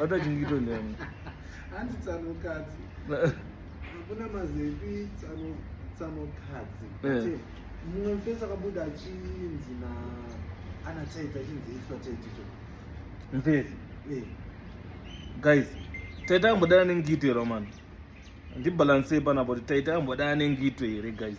Wata chingito ndemu. Hanzi tsano kadzi. Hakuna mazepi tsano tsano kadzi. Eh. Mumwe mfesa kabuda chinzi na ana taita chinzi iswa taitito. Mfesa. Eh. Guys, taita ambodana nengito here mani? Ndibalance panapo kuti taita ambodana nengito here guys?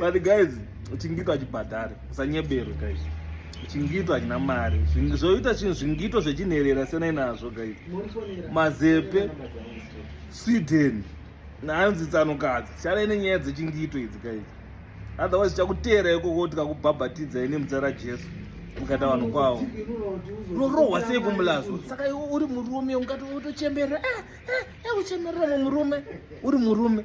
but guys chingito achibhadhare usanyebero guys chingito achina mari zvoita chinhu zvingito zvechinherera senai nazvo guys mazepe sweden nanzi tsanokadzi chanai nenyaya dzechingito idzi guys otherwise chakuteera ikoko tikakubhabhatidzai nemudzara jesu ukata vanhu kwavo rorohwa sei kumulazo saka iwe uri murume ungati utochemberera eh, eh, eh, uchemerera mumurume uri murume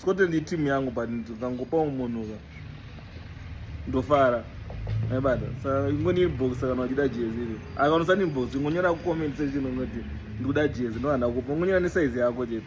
Scotland iteam yangu but ndikangopawo munhu ka ndofara aibata saka ingoni inbox kana wachida jezi iri akanosani inbox ingonyora kucomment section unoti ndikuda jezi ndohanda kupa ungonyora nesaizi yako chete